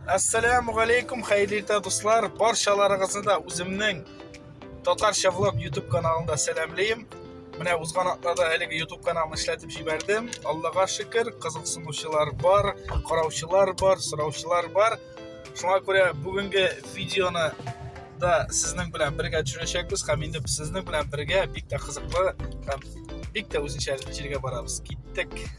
Ассаламу алейкум, хәерле иртә дуслар. Барчаларыгызны да үземнең татарча влог YouTube каналында сәламлим. Менә узган атнада әлеге YouTube каналын эшләтеп җибәрдем. Аллага шөкер, кызыксынучылар бар, караучылар бар, сораучылар бар. Шуңа күрә бүгенге видеоны да сезнең белән бергә төшерәчәкбез һәм инде сезнең белән бергә бик тә кызыклы һәм бик тә үзенчә җиргә барабыз. Киттек.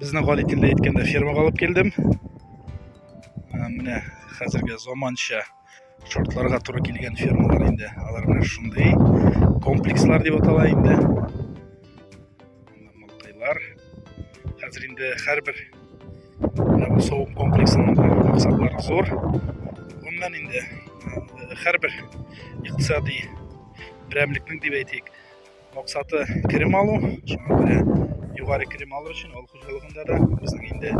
Безнең Галикин дә әйткәндә фермага алып килдем. Менә хәзерге заманча шартларга туры килгән фермалар инде. Алар менә шундый комплекслар дип атала инде. Мылтайлар. Хәзер инде һәрбер савым комплексының максатлары зур. Гомумән инде һәрбер икътисади берәмлекнең дип әйтик, Максаты керем алу, шуңа күрә югары керем алу өчен авыл хуҗалыгында да безнең инде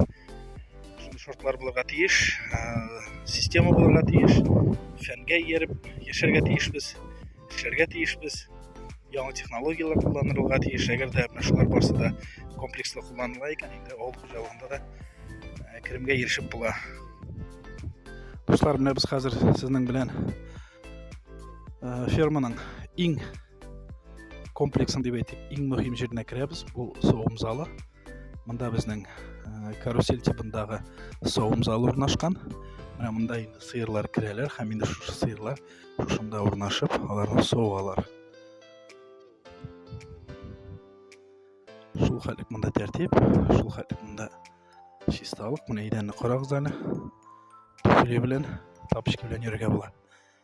шундый шартлар булырга тиеш, система булырга тиеш, фәнгә ияреп яшәргә тиешбез, эшләргә тиешбез, яңа технологияләр кулланырга тиеш. Әгәр дә менә шулар барысы да комплекслы кулланыла икән, инде авыл хуҗалыгында да керемгә ирешеп була. Дуслар, менә без хәзер сезнең белән ферманың иң комплексны дип әйтик иң мөһим җиренә керәбез бу савым залы монда безнең э, карусель тибындагы савым залы урнашкан менә монда инде сыерлар керәләр һәм инде шушы сыерлар шушында урнашып аларны савалар шул хәтлек монда тәртип шул хәтлек монда чисталык менә идәнне карагыз әле туфли белән тапочки белән йөрергә була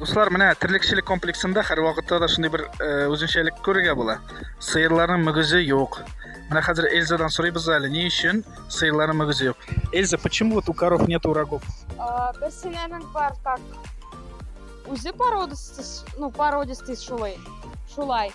Дуслар, менә терлекчелек комплексында һәр вакытта да шундый бер э, үзенчәлек күрергә була. Сыерларның мөгезе юк. Менә хәзер Эльзадан сорыйбыз әле, ни өчен сыерларның мөгезе юк? Эльза, почему вот у коров нет рогов? А, Берсенәнең бар так. Үзе породистый, ну, породистый шулай. Шулай.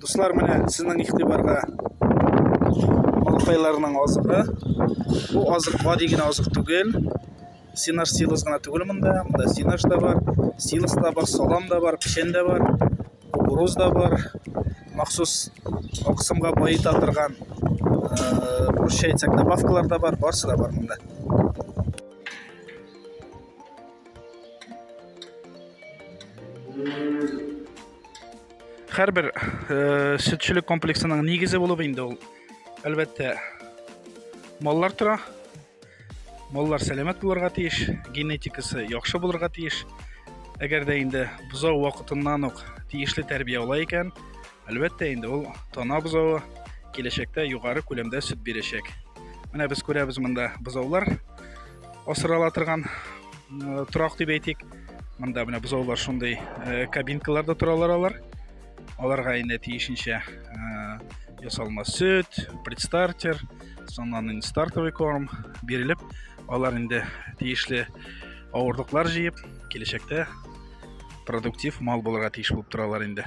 Дуслар, менә сезнең игътибарга балыкайларның азыгы. Бу азык гади генә азык түгел. Синаш силос гына түгел монда. Монда синаш да бар, силос да бар, салам да бар, печән дә бар, кукуруз да бар. Махсус аксымга баета торган Прощай, добавкалар да бар, барсы да бар монда. Хәрбер э, сөтчелек комплексының нигезе булып инде ул. Әлбәттә, маллар тора. Маллар сәламәт булырга тиеш, генетикасы яхшы булырга тиеш. Әгәр дә инде бозау вакытыннан ук тиешле тәрбия ала икән, Әлбәттә инде ул тана бозавы киләчәктә югары күләмдә сөт бирәчәк. Менә без күрәбез монда бозаулар асырала торган э, торак дип әйтик. Монда менә бозаулар шундый э, кабинкаларда торалар алар. Аларга инде тиешенчә э, ясалма сөт, предстартер, соннан инде стартовый корм бирелеп, алар инде тиешле авырлыклар җыеп, киләчәктә продуктив мал булырга тиеш булып торалар инде.